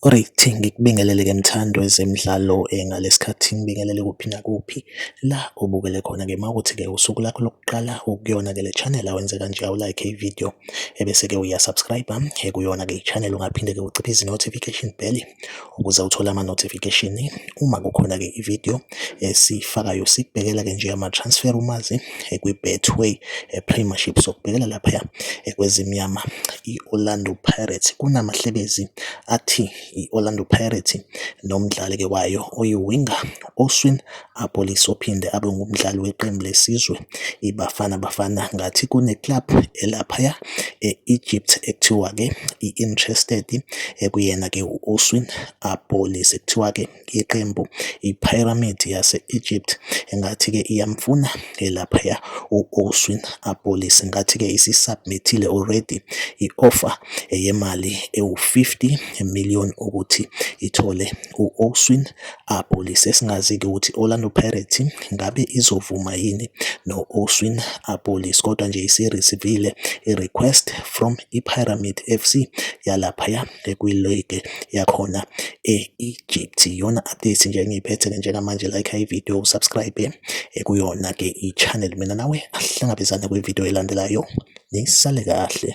Alright, ngikubingelele ke mthandi wezemidlalo ngalesi khathi ngibingelele kuphi nakuphi la obukele khona ke mawukuthi ke usuku lakho lokuqala ukuyona ke le channel awenze kanje awu like i video ebese ke uya subscribe ekuyona ke i channel ungaphinde ke uciphe izi notification bell ukuze uthole ama notification uma kukhona ke i video esifakayo sikubhekela ke nje ama transfer umazi kwiBetway Premiership sokubhekela laphaya kwezimnyama i-Orlando Pirates kunamahlebezi athi i-Orlando Pirates nomdlali-ke wayo oyiwinga Oswin Apolis ophinde abe ngumdlali weqembu lesizwe iBafana Bafana ngathi kune-club elaphaya e-Egypt ekuthiwa-ke i-interested ekuyena-ke u-Oswin Apolis ekuthiwa-ke yeqembu iPyramids yase-Egypt engathi-ke iyamfuna elaphaya u-Oswin Apolis. Ngathi-ke isi-submit-ile already i-offer yemali ewu-50 million ukuthi ithole u-Oswin Apolis. Esingazi-ke ukuthi Orlando Pirates ngabe izovuma yini no-Oswin Apolis kodwa nje isi-receive-ile i-request from iPyramid FC yalaphaya kwiligi yakhona e-Egypt. Iyona update nje engiyiphethe-ke njengamanje like ividiyo usubscribe eh, kuyona-ke i-channel mina nawe ahlangabezane kwividiyo elandelayo nisale kahle.